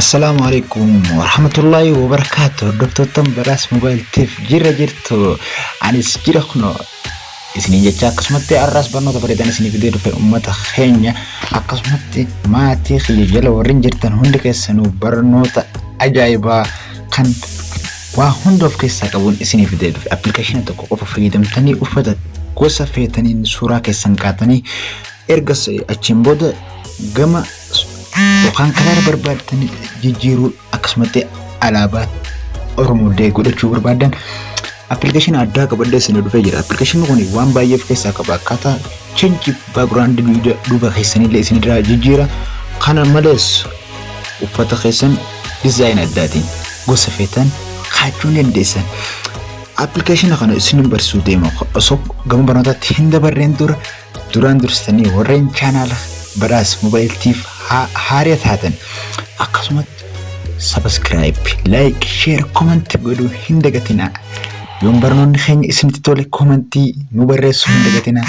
Assalaamu alaikum warahmatullaahi wabarakaatu hordoftoottan badhaas mobaayil tiif jirra jirtu anis jira kuno isiniin jecha akkasumatti har'aas barnoota bareedan isinii fidee dhufe ummata keenya akkasumatti maatii kiyya jala warrin jirtan hundi keessanuu barnoota ajaa'ibaa kan waa hunda of keessaa qabuun isinii fidee dhufe appilikeeshina tokko qofa fayyadamtanii uffata gosa feetaniin suuraa keessan kaatanii Ergas achiin booda gama yookaan karaara barbaaddan jijjiiruu akkasumatti alaabaa Oromoollee godhachuu barbaadan appilikeeshinii addaa qabadhee isin dhufee jira. Appilikeeshinii kun waan baay'ee of keessaa qaba. Akkaataa chenji baakgiraawundi duuba keessanillee isin irraa jijjiira. Kana malees uffata keessan dizaayin addaatiin gosa feetan kaachuu dandeessan. Appilikeeshina kana isin barsiisuu deema. Osoo gama barnootaatti hin dabarreen dura Duraan dursitanii warreen chaanaala badhaas mobaayiltiif haariya taatan akkasumas sabiskiraayib, laayik, sheer, komantii godhuu hin dagatinaa. Yoon barnoonni keenya isinitti tole komantii nu barreessuu hin dagatinaa.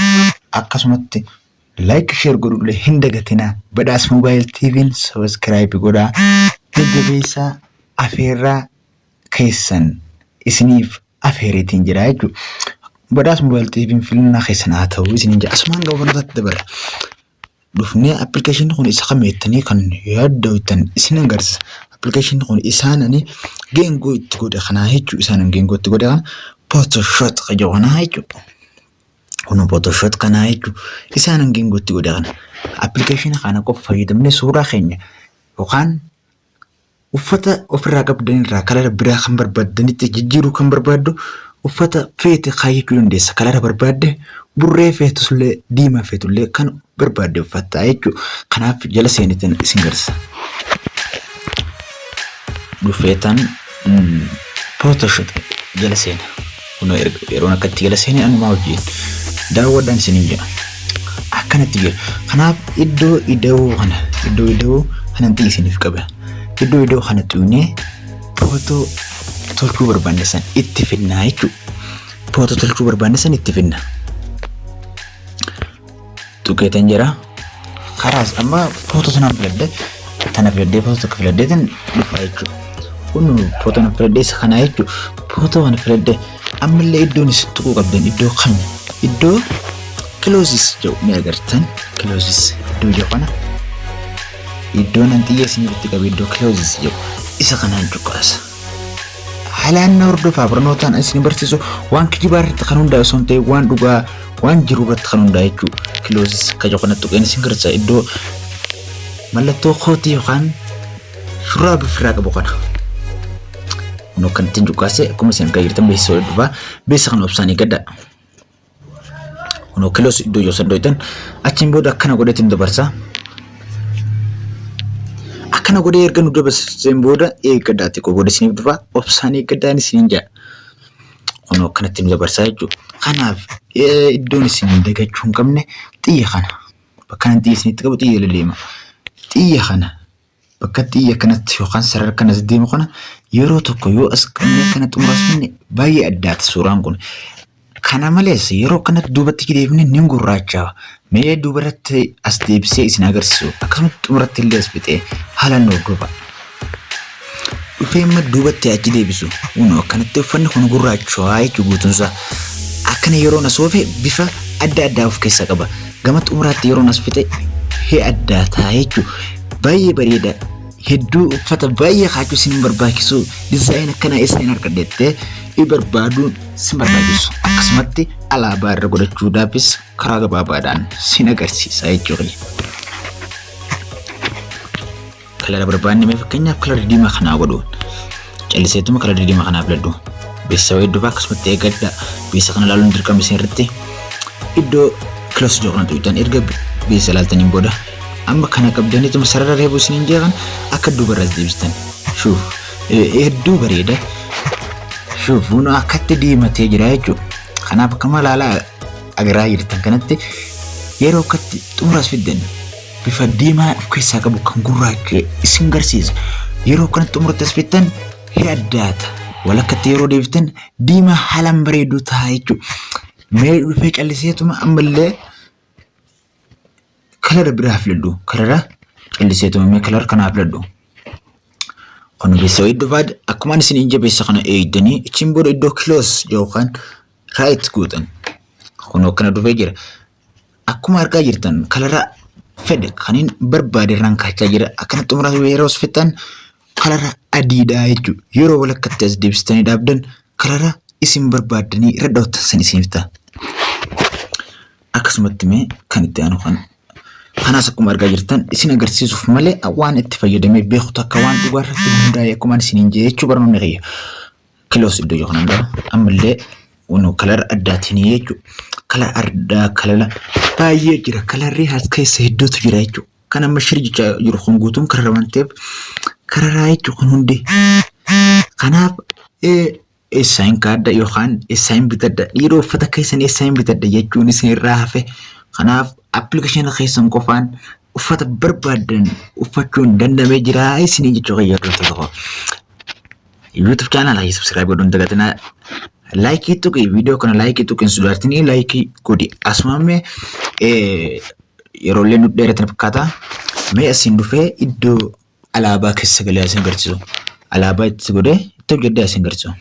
Akkasumatti laayik sheer godhullee hin dagatinaa. Badhaas mobaayil tiiviin sabiskiraayib godhaa. Jajjabeessaa afeerraa keessan isiniif afeereetiin jira jechuudha. Badhaas Mobile TV'n filannaa keessan haa ta'u isiniin jira. Asumaan gaafa barataatti dabarra. Dhufnee appilikeeshinii kun isa kam jettanii kan yaaddoytan isin agarsiisa. Appilikeeshinii kun isaan ani geengoo itti godhe kanaa jechuudha. Isaan ani geengoo itti godhe kana Photoshop jedhu kanaa jechuudha. Kun Photoshop kanaa jechuudha. Isaan ani geengoo itti godhe kana. Appilikeeshinii kana qofa fayyadamnee suuraa keenya yookaan uffata ofirraa qabdan irraa kalara biraa kan barbaaddanitti jijjiiruu kan barbaaddu uffata feete kaayyachuu dandeessa. Kalara barbaadde burree feetusullee diimaa feetullee kan barbaadde uffatta jechuudha. Kanaaf jala seenitan isin garsiisa. Dhufeetan Photoshop jala seena. Kunoo erga yeroon akka itti jala seene anumaa wajjin daawwadhaan isiniin jedha. Akkanatti jira. Kanaaf iddoo ida'uu kana iddoo ida'uu kana nuti isiniif qaba. Iddoo ida'uu kana tuqnee footoo tolchuu barbaanne san itti finnaa jechuudha. Footoo tolchuu barbaanne san itti finnaa. tuqeetan jira. Karaas amma footoo sanaan filadhe tana filadhee footoo tokko filadheetan dhufa jechuudha. Kun footoo na filadhee isa kanaa jechuudha. Footoo kana filadhee ammallee iddoon isin tuquu qabdan iddoo kana iddoo kiloosis jedhu ni agartan kiloosis iddoo jedhu kana iddoo nan xiyya isin itti qabe iddoo kiloosis jedhu isa kanaan cuqqaasa. Haalaan na hordofaa barnootaan isin barsiisu waan kijibaa irratti kan hundaa'e osoo hin ta'in waan dhugaa waan jiru irratti kan hundaa'e jechuudha. Kiloosis kaja kana tuqeen isin garsa iddoo mallattoo kootii yookaan shurraa bifirraa qabu kana. Kun kan ittiin cuqqaasee akkuma isin argaa jirtan beeksisa wal dhufaa beeksisa kana obsaan eeggadhaa. Kunoo kilos iddoo yoo san dhoytan achiin booda akkana godheetti nu dabarsa. Akkana godhee erga nu dabarseen booda eeggadhaa xiqqoo booda isiniif dhufa obsaan eeggadhaa inni isiniin jedha. Kunoo akkanatti nu dabarsaa jechuudha. Kanaaf eh, iddoon isin dagachuu hin qabne xiyya kana. Bakka inni xiyya isinitti qabu xiyya irra deema. Xiyya kana Bakka xiyya kanatti yookaan sarara kana as deemu kana yeroo tokko yoo as qabnee kana xumura as finne baay'ee addaata suuraan kun. Kana malees yeroo kanatti duubatti deebinee ni gurraacha. Mee duubarratti as deebisee isin agarsiisu akkasumas xumuratti illee as fixee haala nu hordofa. Dhufee amma duubatti achi deebisu kunoo akkanatti uffanni kun gurraacha jechuun guutuunsaa. Akkana yeroo na soofe bifa adda addaa of keessaa qaba. Gama xumuraatti yeroon as fixe he addaa ta'a jechuudha. Baay'ee bareeda. Hedduu uffata baay'ee kaachuu sin barbaachisu. Dizaayin akkanaa eessa hin argadhette i barbaaduun sin barbaachisu. Akkasumatti alaabaa irra godhachuudhaafis karaa gabaabaadhaan sin agarsiisa jechuudha. kalara barbaanne mee fakkeenyaaf kalara diimaa kanaa godhu calliseetuma kalara diimaa kanaa filadhu beeksisa wayii duuba akkasumatti eeggadha beeksisa kana ilaaluun dirqama isin irratti iddoo kiloos jiru kana tuqxan erga beeksisa ilaaltaniin booda amma kana qabdaniituma sarara reebuu isiniin jeeqan akka duubarraas deebistan shuuf hedduu bareeda shuuf kun akkatti diimatee jira jechuudha kanaaf akka malaalaa agaraa jirtan kanatti yeroo akkatti xumuraas fiddan bifa diimaa of keessaa qabu kan gurraacha'e isin garsiisa. Yeroo kanatti xumurratti as fittan hin addaata. Walakkatti yeroo deebiftan diimaa haalaan bareedu ta'a jechuudha. Mee dhufee calliseetuma ammallee kalara biraa filadhu. Kalara calliseetuma mee kalara kanaa filadhu. Kun bessa iddoo baad akkuma ani isin jabeessa kana eegdanii ichiin booda iddoo kiloos yookaan raayit gootan. Kun akkana dhufee jira. Akkuma argaa jirtan kalara fed kanin barbaade irraan kaachaa jira. Akkana xumuraa yeroo fixan kalara adiidha jechuudha. Yeroo walakkatti as deebistanii dhaabdan kalara isin barbaaddanii irra dhawattan san isiniif ta'a. Akkasumatti mee kan itti aanu kana. Kanas akkuma argaa jirtan isin agarsiisuuf malee waan itti fayyadamee beeku takka waan dhugaa irratti hundaa'e akkuma isiniin jechuu barnoonni kiyya. kilos iddoo jiru kana dura ammallee wano kalara addaatiin jechuun kalara addaa kalala baay'ee jira kalarri as keessa hedduutu jira jechuun kan amma shiri jechaa jiru kun guutuun karara waan ta'eef kararaa jechuun kun hundi kanaaf eessaa hin kaadda yookaan eessaa hin bitadda dhiiroo uffata keessan eessaa hin bitadda jechuun isin irraa hafe kanaaf appilikeeshina keessan qofaan uffata barbaadan uffachuun danda'amee jira isin jechuu kan yaadatu tokko. YouTube channel ayyi subscribe godhuu hin dagatinaa. Like tuqi video kana like tuqi hin sodaatini like godhi asumamme yeroo illee nu dheeratan fakkaata. Mee asiin dhufee iddoo alaabaa keessa galee asiin agarsiisu. Alaabaa itti godhee itti hojjedhee asiin agarsiisu.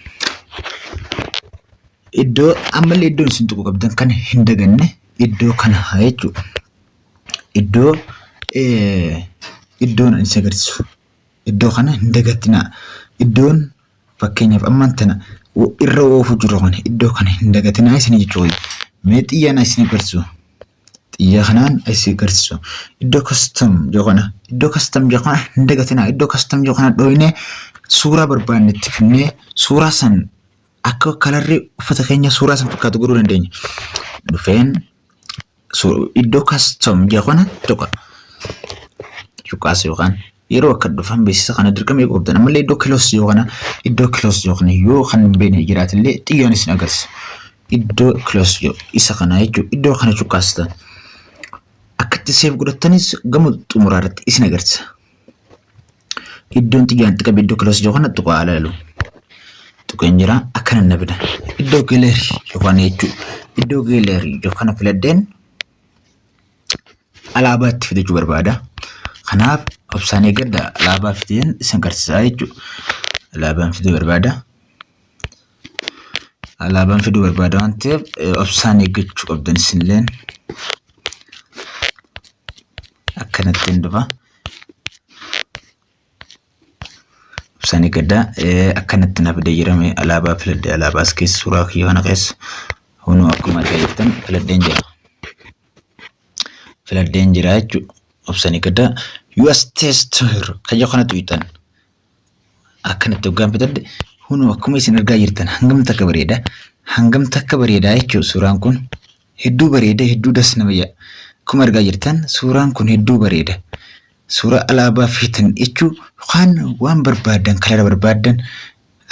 Iddoo ammallee iddoon isin tuqu qabdan kan hin daganne iddoo kana jechuudha. Iddoo iddoon isin agarsiisu. Iddoo kana hin dagatinaa. Iddoon fakkeenyaaf ammaan tana irra oofu jiru kana iddoo kana hin dagatinaa isin jechuudha. Mee xiyyaan isin agarsiisu. Xiyyaa kanaan isin agarsiisu. Iddoo kastam jiru kana iddoo kastam jiru kana hin dagatinaa. Iddoo kastam jiru kana dhooyinee suuraa barbaanne itti finnee suuraa san akka kalarri uffata keenya suuraa san fakkaatu godhuu dandeenya. Dhufeen So iddoo custom jedhu kana tuqa. Cuqaas yookaan yeroo akka dhufan beeksisa kana dirqama eeguu qabdan. Ammallee iddoo close jedhu kana iddoo close jedhu kana yoo kan hin beekne jiraate illee xiyyoon isin agarsiisa. Iddoo close jedhu isa kana jechuudha. Iddoo kana cuqaastan. Akkatti seef godhattanis gama xumuraa irratti isin agarsiisa. Iddoon xiyyaan itti qabe iddoo kiloos jiru kana tuqaa ala lalu. Tuqeen jira akkana na fida. Iddoo geeleerii yookaan jechuudha. Iddoo geeleerii yookaan filadheen alaabaa itti fidachuu barbaada. Kanaaf obsaan eeggadha alaabaa fideen isin garsiisaa jechuudha. Alaabaan fiduu barbaada. Alaabaan fiduu barbaada waan ta'eef eh, obsaan eeggachuu qabdan isinilleen. Akkanatti hin dhufa. Obsaan eeggadha. Eh, Akkanatti na fide jedhame alaabaa filadhe alaabaas keessa suuraa kiyya kana keessa. Hunuu akkuma argaa jirtan filadheen jira. Filadheen jira jechuudha. Obsaan eeggadha. US test kayya kana tuqxan. akkanatti hoggaan bitadde hunuu akkuma isin argaa jirtan hangam takka bareeda hangam takka bareedaa jechuun suuraan kun hedduu bareeda hedduu das nama jedha akkuma argaa jirtan suuraan kun hedduu bareeda suuraa alaabaa feetan jechuu yookaan waan barbaadan kalara barbaadan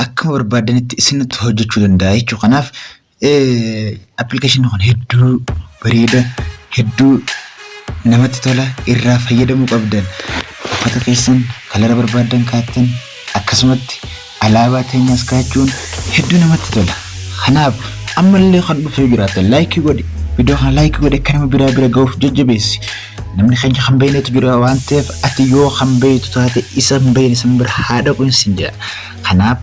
akkuma barbaadanitti isinitti hojjechuu danda'a jechuu kanaaf Appilikeeshinni kun hedduu bareeda, hedduu namatti tola, irraa fayyadamuu qabdan. Uffata keessan kalara barbaaddan kaattan akkasumatti alaabaa teenyas kaachuun hedduu namatti tola. Kanaaf ammallee kan dhufee jiraatan laayikii godhi. Viidiyoo kana laayikii godhi akka nama biraa bira ga'uuf jajjabeessi. Namni keenya kan beeknetu jira waan ta'eef ati yoo kan beektu taate isa hin beekne san bira haa dhaquun sin jedha. Kanaaf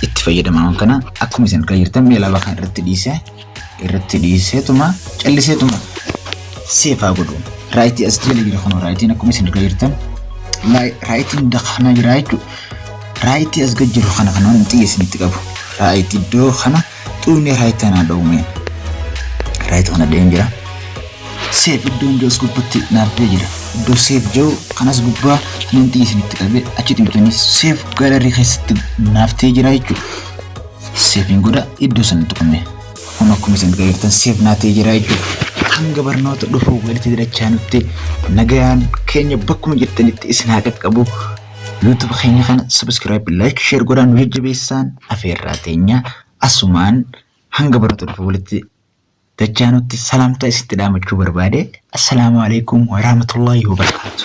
itti fayyadama waan kana akkuma isin argaa jirtan mee alaabaa kana irratti dhiisee irratti dhiiseetuma calliseetuma seefaa godhu. Raayitii as jala jira kun raayitiin akkuma isin argaa jirtan raayitiin hunda kana jira jechuudha. Raayitii as gad jiru kana kan waan xiyya isinitti qabu. Raayitii iddoo kana Tuunni right anaa dhowme. Right ana dheen jira. Seef iddoon jos gubbatti naaf dhee jira. Iddoo seef jiru kanas gubbaa namtii isinitti qabe achitti hojjanii seef galarii keessatti naaf ta'ee jira jechuudha. Seefiin godha iddoo sanatti tuqame. Kun akkuma isin gargaartan seef naa ta'ee jira jechuudha. Hanga barnoota dhufu walitti dirachaanitti nagaan keenya bakkuma jirtanitti isin haa qaqqabu. YouTube keenya kana subscribe, like, share godhaan nu jajjabeessaan afeerraa teenya asumaan hanga bara torba walitti dachaanutti salaamtaa isinitti dhaamachuu barbaade. Assalaamu alaikum wa rahmatullahi wa barakaatu.